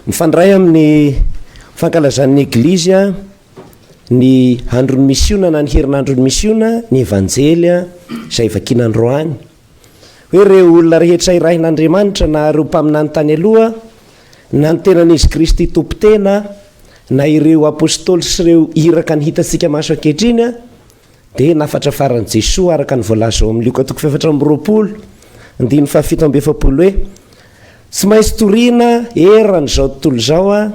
Mifandray amin'ny fankalazan'ny Eglizy ny andron'ny misiona na ny herinandron'ny misiona ny Evanjely izay vakina androany. Hoe ireo olona rehetra irahin'Andriamanitra na ireo mpaminany tany aloha na ny tenan'izy Kristy tompo tena na ireo apôstôly sy ireo iraka ny hitantsika maso ankehitriny Dia nafatra faran'i Jesoa araka ny voalaza ao amin'ny Lioka toko fahefatra amby roapolo, andininy fahafito amby efapolo hoe, Tsy maintsy torina eran'izao tontolo izao Aho,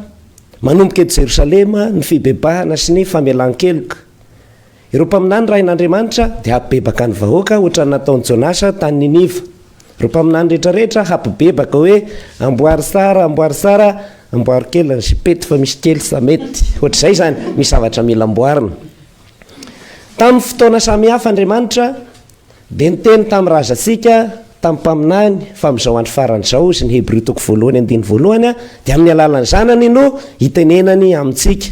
manomboka eto Jerosalema, ny fibebahana sy ny famelan-keloka. Ireo mpaminany rain'Andriamanitra dia hampibebaka ny vahoaka hoatran'ny nataon'i Jonasa tany Niniva. Ireo mpaminany rehetrarehetra hampibebaka hoe, Amboary tsara, amboary tsara, amboary kely ny sipety fa misy kely sa mety. Hoatr'izay izany, misy zavatra mila amboarina. Tamin'ny fotoana samy hafa Andriamanitra dia niteny tamin'ny razantsika, tamin'ny mpaminany, fa amin'izao andro farany izao, hoy ny Hebrio toko voalohany andininy voalohany, dia amin'ny alalan'ny Zanany no hitenenany amintsika.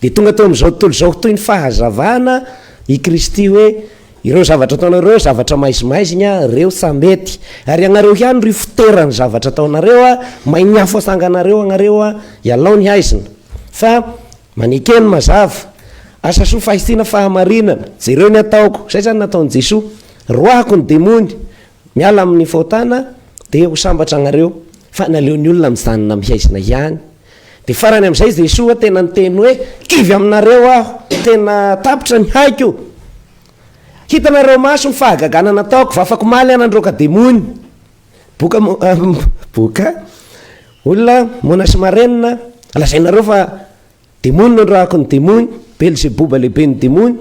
Dia tonga teo amin'izao tontolo izao toy ny fahazavana i Kristy hoe, Ireo zavatra ataonareo ireo zavatra maizimaizigna, ireo tsa mety. Ary ianareo ihany ry fotera ny zavatra ataonareo, may ny afo asanganareo agnareo, ialao ny haizina. Fa Manekeno mazava. Asa soa fahitsiana fahamarinana. Jereo ny ataoko. Izay izany nataon'i Jesoa. Roahiko ny demony. Miala amin'ny fahotana dia ho sambatra anareo. Fa naleo ny olona mijanona mihaizina ihany. Dia farany amin'izay Jesoa tena niteny hoe kivy aminareo aho. Tena tapitra ny haiko. Hitanareo maso ny fahagagana nataoko. Vafako maly aho nandroaka demony. Boka mo- ah, m- boka olona moana sy marenina lazainareo fa demony no rahako ny demony belzeboba lehibe ny demony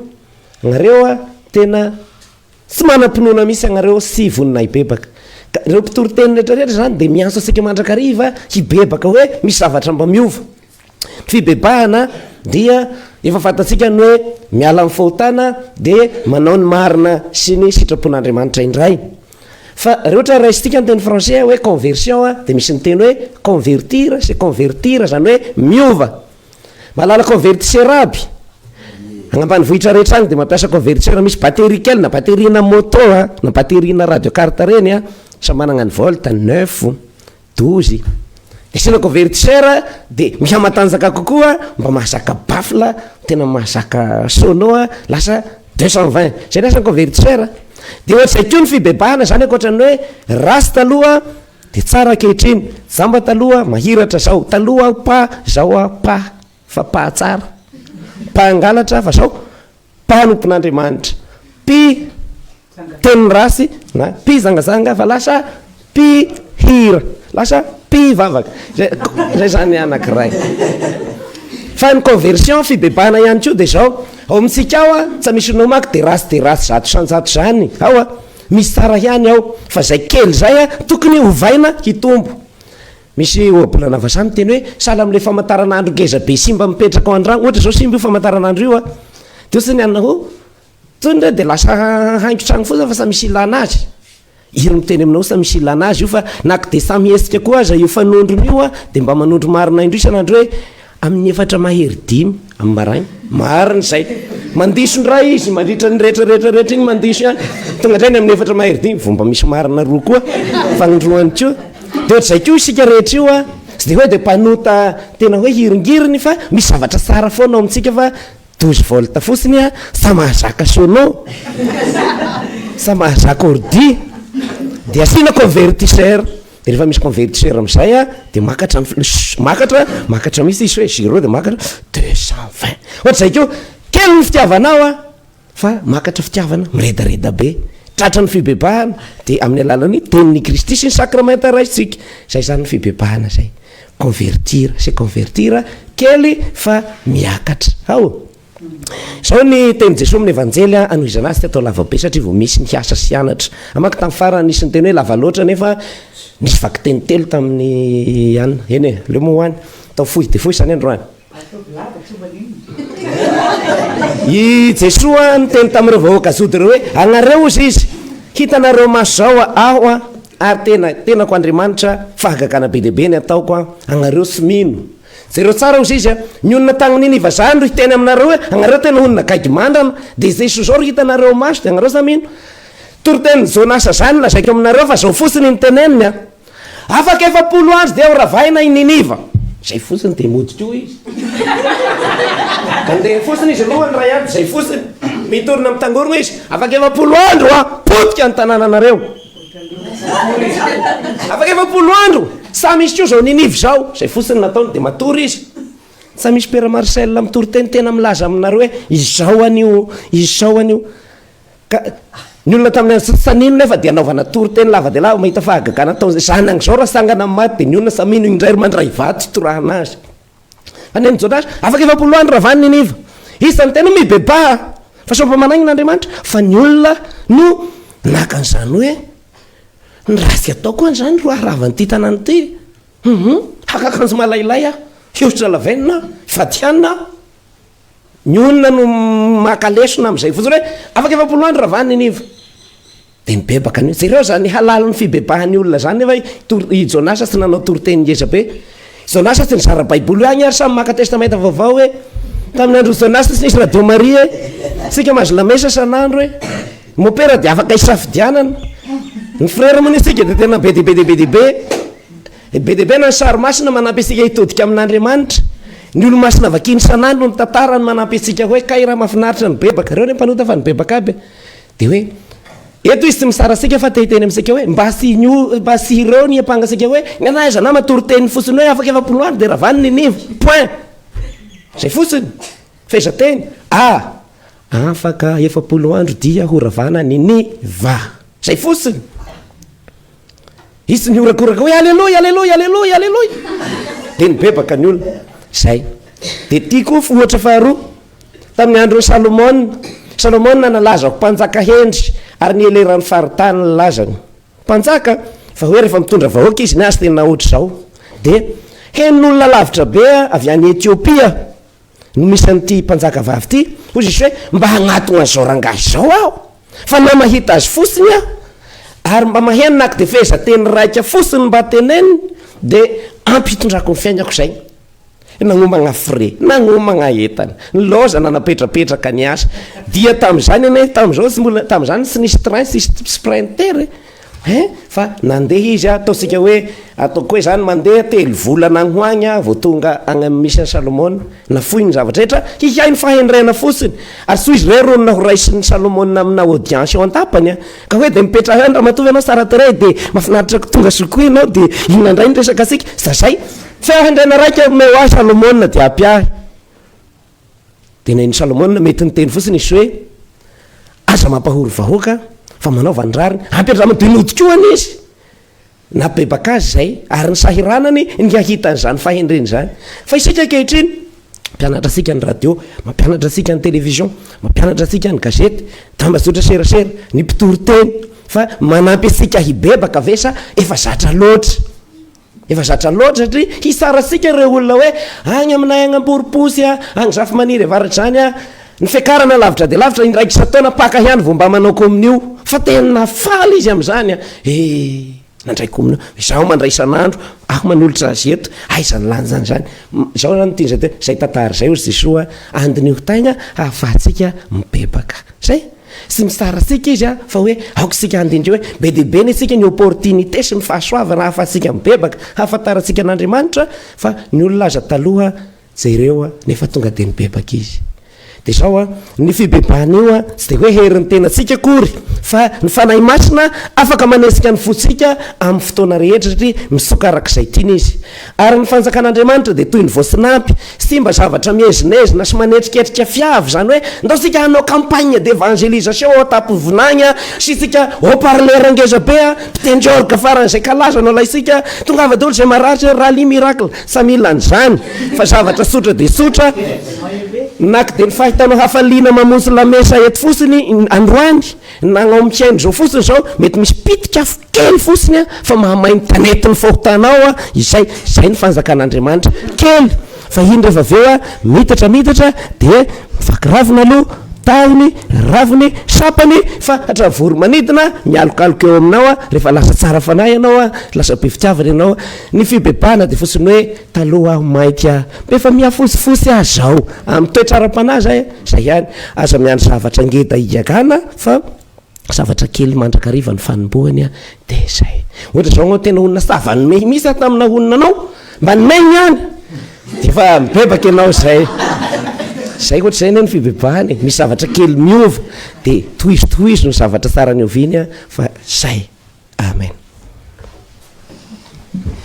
agnareo a tena tsy manam-pinoana misy agnareo sy vonona hibebaka ka ireo mpitoriteny rehetrarehetra zany dia miantso antsika mandrakariva hibebaka hoe misy zavatra mba miova Ny fibebahana dia efa fantatsika ny hoe miala amin'ny fahotana dia manao ny marina sy ny sitrapon'Andriamanitra indray. Fa raha ohatra hoe raisintsika ny teny français hoe conversion dia misy ny teny hoe convertir sy convertir izany hoe miova. Mahalala convertisseur aby? Any ambanivohitra rehetra any dia mampiasa convertisseur misy batterie kely na batterie-na moto na batterie-na radio carte ireny an, samy manana ny volt, neuf, Dozy, asiana couverture de mihamatanjaka kokoa mba mahazaka baffle tena mahazaka sono a lasa deux cent vingt zay ny asany couverture de ohatr'izay koa ny fibebahana zany ankoatran'ny hoe ratsy taloha de tsara ankehitriny, jamba taloha mahiratra zao, taloha aho pa zao aho pa. fa mpahatsara, mpangalatra fa sao mpanompon'Andriamanitra, mpi teny ratsy na mpi zangazanga fa lasa mpi hira, lasa mpi vavaka, zay zay zany anakiray. Fa ny conversion fibebahana ihany koa dia zao, ao amintsika ao a, tsa misy no mako dia ratsy dia ratsy zato isan-jato zany ao a, misy tsara ihany ao, fa zay kely zay a tokony hovaina hitombo, Misy ohabola na vazaha miteny hoe sahala amin'ilay famantaranandro ngeza be simba mipetraka ao an-drano. Ohatra izao simba io famantaranandro io an, dia ohatra hoe ny anona hoe tony re dia lasa haingo trano fotsiny fa samy misy ilana azy. Iry miteny aminao samy misy ilana azy io fa na ko dia samy hetsika koa aza io fanondrona io an, dia mba manondro marina indroa isan'andro hoe. Amin'ny efatra mahery dimy amin'ny maraina. Marina izay. Mandiso indray izy mandritra ny rehetra rehetra rehetra iny mandiso ihany. Tonga indray ny amin'ny efatra mahery dimy vao mba misy marina roa koa fagnindroany koa. Dia ohatr'izay koa isika rehetra io an. Tsy dia hoe dia mpanota tena hoe hiringiriny fa misy zavatra tsara foana ao amintsika fa douze volts fotsiny an, sa mahazaka sono? sa mahazaka ordi? dia asiana convertisseur. De refa misy convertisseur amizay a de makatra ny fl makatra makatra mihitsy izy sao hoe zero de makatra deux cent vingt ohatr'izay ko kely ny fitiavanao a fa makatra fitiavana miredareda be tratra ny fibebahana de amin'ny alalan'ny tenin'i Kristy sy ny sakramenta raisintsika zay zany ny fibebahana zay convertir se convertir kely fa miakatra ao Izao ny tenin'i Jesoa amin'ny Evanjely, Hanohizana azy teto lavabe satria vao misy ny hiasa sy hianatra. Hamaky tamin'ny farany, nisy niteny hoe lava loatra nefa nisy vakiteny telo tamin'ny an. Eny e, aleo moa ho any. Atao fohy dia fohy izany androany. I Jesoa niteny tamin'ireo vahoaka zody ireo hoe, Agnareo hozy izy, hitanareo maso izao aho ary tena, tenako Andriamanitra, fahagagana be dia be ny ataoko, agnareo tsy mino. Jereo tsara ozy izy a! Ny olona tagny Niniva zany ro hiteny aminareo hoe agnareo tena olona gaigy mandrana, de izay soa zao ro hitanareo ao maso de agnareo sa mino? Toritenin'i Jonasa zany lazaiko aminareo fa zao fotsiny no teneniny a! Afaka efapolo andro dia ho ravaina i Niniva! Zay fotsiny de mody koa izy! Andeha fotsiny izy aloha ny ray andro de zay fotsiny! Mitorina mitangorogna izy, afaka efapolo andro aho potika ny tanananareo! Afaka efapolo andro, sa misy koa zao ninivo zao, zay fotsiny nataony de matory izy, sa misy père Marcel mitory teny tena milaza aminareo hoe izao anio, izao anio, ka ny olona tamin'ny andro tsy tsanino nefa dia anaovana tory teny lava dia lava mahita fahagagana ataon'izay zanany zao raha sangana maty dia ny olona samia no indray ry mandray vato hitorahana azy. Any amin'ny JH, afaka efapolo andro raha vanona i Niva. Izy izany teny hoe mibebaha fa sao mpamanahina Andriamanitra, fa ny olona no naka an'izany hoe ny ratsy ataoko an'izany ro harava an'ity tanàna ity. Haka akanjo malailay aho, hihosotra lavenona aho, hifady hanina aho. Ny olona no maka lesona amin'izay fotsiny hoe afaka efapolo andro ravana i Niva dia mibebaka ny hoe jereo izany halalin'ny fibebahan'ny olona izany nefa i Tor- i Jonasa tsy nanao toriteny ngeza be Jonasa tsy nizara baiboly hoe agny ary samy maka testamenta vaovao hoe tamin'ny andron'i Jonasa tsy nisy radio maria e tsika mahazo lamesa san'andro e ny mopera dia afaka hisafidianana ny frera moa ny antsika dia tena be dia be dia be dia be Be dia be na ny sary masina manampy antsika hitodika amin'Andriamanitra. Ny olo-masina vakiany isan'andro ny tantarany manampy antsika hoe kay raha mahafinaritra ny bebaka. Ireo anie mpanota fa ny bebaka aby e. Dia hoe eto izy tsy mitsara antsika fa te hiteny amintsika hoe mba asio mba asireo ny ampanga antsika hoe nenaha aiza nama toriteniny fotsiny hoe afaka efapolo andro dia ravany ny nivo. Point. Izay fotsiny. Fehezanteny A. Afaka efapolo andro dia ho ravana ny niva. Izay fotsiny. Hisy nihorakoraka hoe aleloia, aleloia, aleloia, aleloia. Dia nibebaka ny olona. Izay. Dia ity koa ohatra faharoa. Tamin'ny andron'i Salomona. Salomona nalaza ho mpanjaka hendry ary nieleran'ny faritany ny lazany. Mpanjaka, fa hoe rehefa mitondra vahoaka izy ny azy tena ohatr'izao. Dia henon'olona lavitra be avy any Etiopia no misy an'ity mpanjaka vavy ity, hoy Jesosy hoe, mba hagnatona an'izao rangahy izao aho, fa na mahita azy fotsiny aho, ary mba maheno na dia fehezanteny raika fotsiny mba teneniny, dia ampy hitondrako ny fiainako izay. Nagnomagna frais, nagnomagna entana, nilaozana napetrapetraka niasa, dia tamin'izany anie, tamin'izao tsy mbola, tamin'izany tsy nisy train, tsy nisy sprinter e, Hein? Fa nandeha izy a, ataontsika hoe, ataoko hoe zany, mandeha telo volana agny ho agny aho vao tonga agny amin'ny misy an'i Salomona, nafoiny ny zavatra rehetra, hiahy ny fahendrena fotsiny, ary soa izy ireo ronina ho raisin'i Salomona amina audience eo an-tapany a, ka hoe dia mipetraha eo any ramatoa ve ianao tsara tarehy dia mahafinaritra ko tonga soa koa ianao dia inona indray ny resaka antsika, zay, fahendrena raika omeo ahy Salomona dia ampiahy. Dia na i Salomona mety niteny fotsiny izy hoe, Aza mampahory vahoaka fa manaova ny rariny. Ampiandramo dia nodikohana izy. Nabebaka azy izay, ary ny sahiranany ny hahita an'izany fahendreny izany. Fa isika ankehitriny, mampianatra antsika ny radio, mampianatra antsika ny television, mampianatra antsika ny gazety, tambazotra serasera, ny mpitoriteny. Fa manampy antsika hibebaka ve sa efa zatra loatra? Efa zatra loatra satria hisaratsika ireo olona hoe agny aminay agny Amborimposy a, agny Zafimaniry Avaradrany a, ny fiakarana lavitra dia lavitra, indraika isan-taona Paka ihany vao mba manao komonio, fa tena faly izy amin'izany a! E! nandray komonio, izaho mandray isan'andro, aho manolotra azy eto, aiza ny lanjany izany? izao izany no tian'izy atao hoe, izay tantara izay hozy Jesoa a, andiniho taigna hahafahantsika mibebaka. Zay! sy mitsara antsika izy fa hoe aoka isika handindra hoe be dia be ny antsika ny opportunité sy ny fahasoavana ahafahantsika mibebaka hahafantarantsika an'Andriamanitra fa ny olona aza taloha jereo nefa tonga dia nibebaka izy dia izao ny fibebahana io tsy dia hoe herin'ny tenantsika akory fa ny Fanahy Masina afaka manesika ny fontsika amin'ny fotoana rehetra satria mitsoka araka izay tiany izy Ary ny fanjakan'Andriamanitra dia toy ny voasinampy, simba zavatra miezinezina sy manetriketrika fiavy, izany hoe, ndao isika hanao campagne d'evangelisation ao an-tampon-vinagny a, asiantsika haut-parleur ngeza be a, mpitendry orgue faran'izay kalaza no alaintsika, tongava daholo izay marary sao rallye miracle, tsy mila an'izany, fa zavatra tsotra dia tsotra, na k'de ny fahitanao hafaliana mamonjy lamesa eto fotsiny androany, Nagnomika aina izao fotsiny izao, mety misy pitika afo kely fotsiny fa mahamay ny tanety ny fahotana ao izay, izay ny fanjakan'Andriamanitra, kely fa iny rehefa avy eo miditra miditra dia mivaky ravina aloha, tahony, raviny, sampany fa hatrany voro-manidina mialokaloka eo aminao rehefa lasa tsara fanahy ianao, lasa be fitiavana ianao, ny fibebahana dia fotsiny hoe. Taloha aho mainka be fa mihafosifosy aho zao amin'ny toetra ara-panahy zay a! zay ihany, aza miandry zavatra ngeda higagana fa zavatra kely mandrakariva ny fanombohany a! de zay. Ohatra zao anao tena olona savan'ny mehy mihitsy a tamin'ny naha-olona anao, mba ny mehy ihany de efa mibebaka ianao zay, zay ohatra zay anie ny fibebahana e! misy zavatra kely miova de tohizo tohizo ny zavatra tsara ny oviany a! fa zay! Amen.